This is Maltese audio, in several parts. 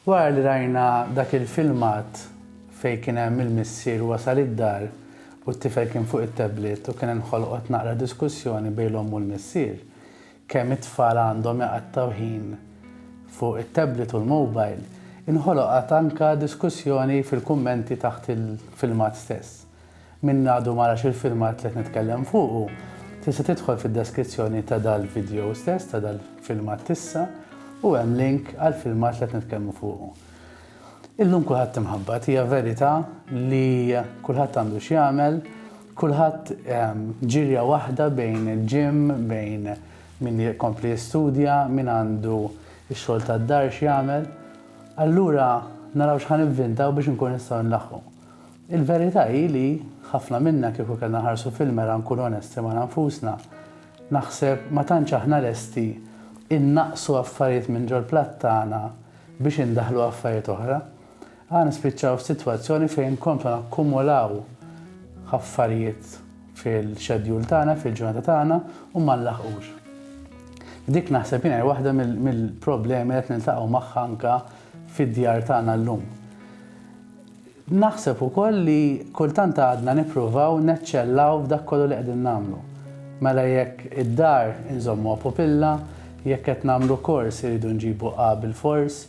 Wara li rajna dak il-filmat fejn kien hemm il-missier wasal id-dar u t-tifel kien fuq it-tablet u kien inħolqot naqra diskussjoni bejn l-omm u l-missier, kemm it-tfal għandhom iqattgħu ħin fuq it-tablet u l-mobile, inħoloqat anke diskussjoni fil-kummenti taħt il-filmat stess. Min għadu ma rax il-filmat li qed nitkellem fuqu, tista' tidħol fid-deskrizzjoni ta' dal-vidjow stess, ta' dal-filmat t'issa, u hemm link għall-filmat li qed nitkellmu fuqu. Illum kulħadd imħabbat, hija verità li kulħadd għandu x'jagħmel, kulħadd ehm, ġirja waħda bejn il-ġim, bejn min jkompli jistudja, min għandu x-xogħol tad-dar x'jagħmel. Allura naraw x'ħan ivvintaw biex inkun nistgħu nlaħħu. Il-verità hi li, ħafna minna kieku kellna nħarsu fil-mera nkunu onesti magħna nfusna, naħseb ma tantx aħna lesti innaqqsu affarijiet minn ġol-platt tagħna biex indaħħlu affarijiet oħra. Aħna nispiċċaw f'sitwazzjoni fejn nkomplu nakkumulaw affarijiet fil-xedjul tagħna, fil-ġurnata tagħna u ma nlaħqux. Dik naħseb jiena waħda mill-problemi li qed niltaqgħu magħha anke fid-djar tagħna llum. Naħseb ukoll li kultant għadna nippruvaw neċċellaw f'dak kollu li qegħdin nagħmlu. Mela jekk id-dar inżommuha pupilla, jekk qed nagħmlu kors irridu nġibu A bilfors,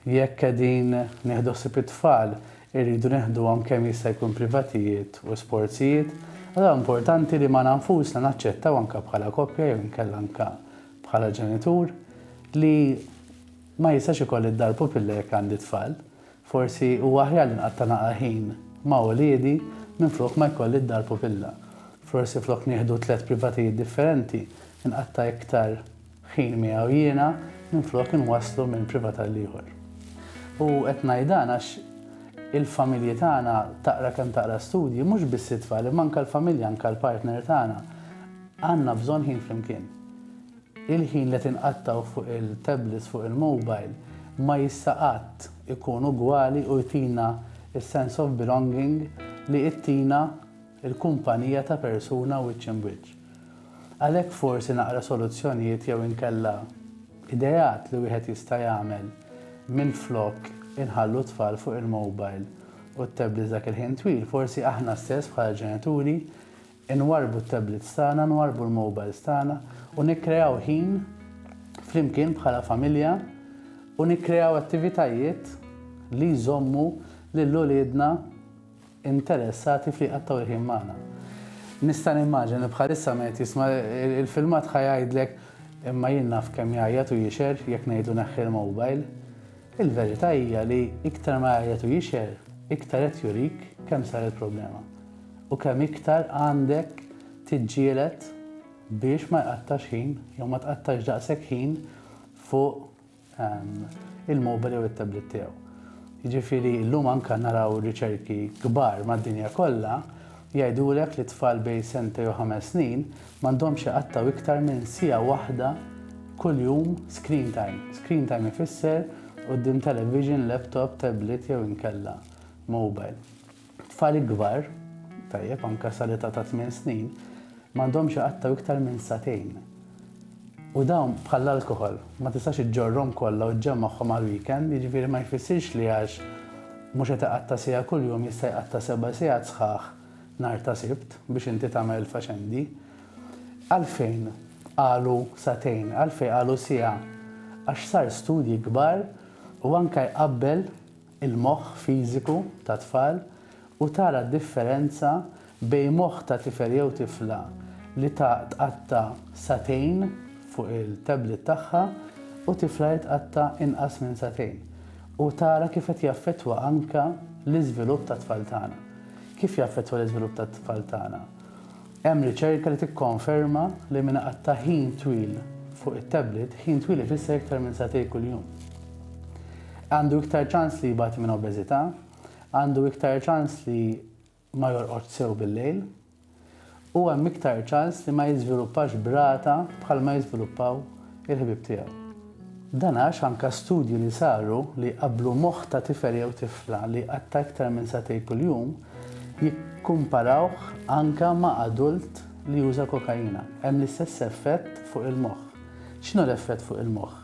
jekk qegħdin nieħdu ħsieb it-tfal irridu neħduhom kemm jista' jkun privatijiet u sportsijiet, allura importanti li magħna nfusna naċċettaw anke bħala koppja jew inkella anke bħala ġenitur li ma jistax ikolli d-dar pupilla jekk għandi t-tfal. Forsi huwa aħjar li nqatta' naqra ħin ma' uliedi minflok ma jkolli d-dar pupilla. Forsi flok nieħdu tliet privatijiet differenti, inqatta' iktar ħin miegħu jiena minflok inwasslu minn privat għall-ieħor. U qed ngħid dan għax il-familji tagħna, taqra kemm taqra studji, mhux biss it-tfal imma anke l-familja, anke l-partner tagħna, għandna bżonn ħin flimkien. Il-ħin li tinqattgħu fuq il-tablets fuq il-mobile ma jista' qatt ikun ugwali u jtina s-sense of belonging li ittina l-kumpanija ta' persuna wiċċ imb wiċċ. Għalhekk forsi naqra soluzzjonijiet jew inkella ideat li wieħed jista' jagħmel minflok inħallu t-tfal fuq il-mobile u t-tablets dak il-ħin twil forsi aħna stess bħala ġenituri inwarrbu t-tablets tagħna, nwarrbu l-mobiles tagħna u nikkreaw ħin flimkien bħala familja u nikkreaw attivitajiet li jżommu lil uliedna interessati f'li jqattgħu l-ħin magħna. Nista' nimmaġina li bħalissa ma qed jisma' il-filmat ħa jgħidlek imma jien naf kemm jgħajjat u jixher jekk ngħidlu neħħi l-mobile. Il-verità hija li iktar ma jgħajjat u jixher, iktar qed jurik kemm saret problema u kemm iktar għandek tiġġieled biex ma jqattax ħin jew ma tqattax daqshekk ħin fuq ehm, il-mobile jew it-tablet tiegħu. Jiġifieri llum anke naraw riċerki kbar mad-dinja kollha jgħidulek li tfal bej sente jew ħames snin M'għandhomx iqattgħu iktar minn siegħa waħda kuljum screen time. Screen time ifisser quddiem television, laptop, tablet jew inkella mobile. Tfal ikbar, tajjeb anke sal-età ta' tmien snin, m'għandhomx iqattgħu iktar minn sagħtejn. U dawn bħall-alkoħol, ma tistax iġġorrhom kollha u ġġemmagħhom għall-weekend, jiġifieri ma jfissirx li għax mhux qed iqatta' siegħa kuljum jista' jqatta' seba' sigħat sħaħ. nhar ta' Sibt biex inti tagħmel il-faċendi. Għalfejn qalu sagħtejn, għalfejn qalu siegħa? Għax sar studji kbar u anke jqabbel il-moħħ fiżiku ta' tfal u tara d-differenza bejn moħħ ta' tifel jew tifla li tqatta' sagħtejn fuq il-tablet tagħha u tifla li tqatta' inqas minn sagħtejn u tara kif qed jaffettwa anke l-iżvilupp tat-tfal tagħna. Kif jaffettwa l-iżvilupp tat-tfal tagħna? Hemm riċerka li tikkonferma li min iqatta' ħin twil fuq it-tablet, ħin twil ifisser iktar minn sagħtej kuljum, għandu iktar ċans li jbati minn obeżità, għandu iktar ċans li ma jorqodx sew bil-lejl, u hemm iktar ċans li ma jiżviluppax b'rata bħalma jiżviluppaw il-ħbieb tiegħu. Dan għax anke studji li saru li jqabblu moħħ ta' tifel jew tifla li jqatta' iktar minn sagħtejn kuljum jikkumparawh anke ma' adult li juża kokaina, hemm l-istess effett fuq il-moħħ. X'inhu l-effett fuq il-moħħ?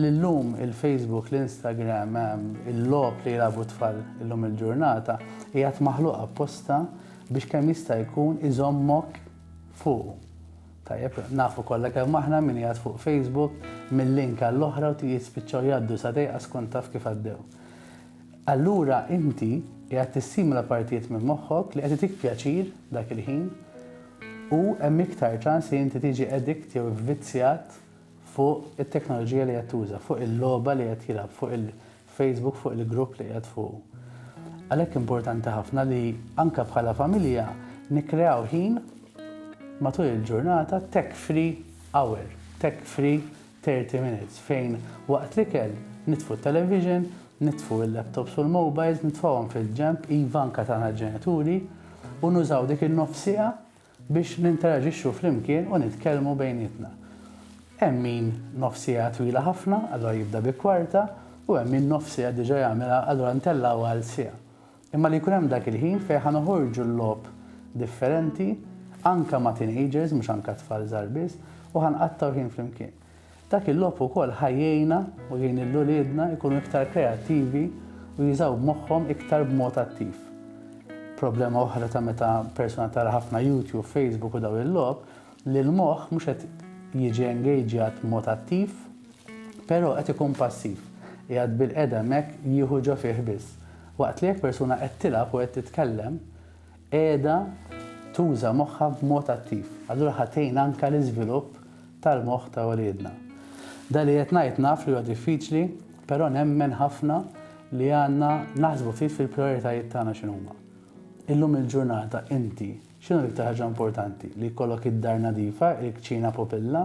Li llum il-Facebook, l-Instagram, il-logħob li jilagħbu t-tfal illum il-ġurnata qiegħed maħluq apposta biex kemm jista' jkun iżommok fuqu. Tajjeb, nafu kollha kemm aħna min qiegħed fuq Facebook minn link għall-oħra u jispiċċaw jgħaddu sa dejqa skont taf kif għaddew. Allura inti qiegħed tissimula partijiet minn moħħok li qed itik pjaċir dak il-ħin u hemm iktar ċans li inti tiġi edikt jew ivvizzjat fuq it-teknoloġija li qed tuża, fuq il-logħba li qed jilgħab, fuq il-Facebook, fuq il-grupp li qiegħed fuqu. Għalhekk importanti ħafna li anke bħala familja nikkreaw ħin matul il-ġurnata tech free hour, tech free 30 minutes fejn waqt li kell nitfu television, nitfu il-laptops u l-mobiles, nitfawhom fil-ġemp, iva anka tagħna ġenituri, u nużaw dik in-nofsija biex ninteraġixxu flimkien u nitkellmu bejnietna. Hemm min nofs siegħa twila ħafna, allura jibda bi kwarta, u hemm min nofs siegħa diġà jagħmilha, allura ntellgħu għal siegħa. Imma li jkun hemm dak il-ħin fejn ħa noħorġu l-logħob differenti, anke ma' teenagers, mhux anke tfal żgħar biss, u ħa nqattgħu ħin flimkien. Dak il-logħob ukoll ħa jgħinna u jgħin lil uliedna jkunu iktar kreattivi u jużaw moħħhom iktar b'mod attiv. Problema oħra ta' meta persuna tara ħafna YouTube, Facebook u daw il-logħob li l-moħħ mhux qed jiġi engaġġjat b'mod attiv, però qed ikun passiv, qiegħed bilqiegħda hemmhekk jieħu ġo fih biss. Waqt li jekk persuna qed tilgħab u qed titkellem, qiegħda tuża moħħha b'mod attiv. Allura ħa tgħin anke l-iżvilupp tal-moħħ ta' uliedna. Dan li qed ngħid naf li huwa diffiċli, però nemmen ħafna li għandna naħsbu ftit fil-prijoritajiet tagħna x'inhuma. Illum il-ġurnata inti x'inhu l-iktar ħaġa importanti? Li jkollok id-dar nadifa, il-kċina popilla,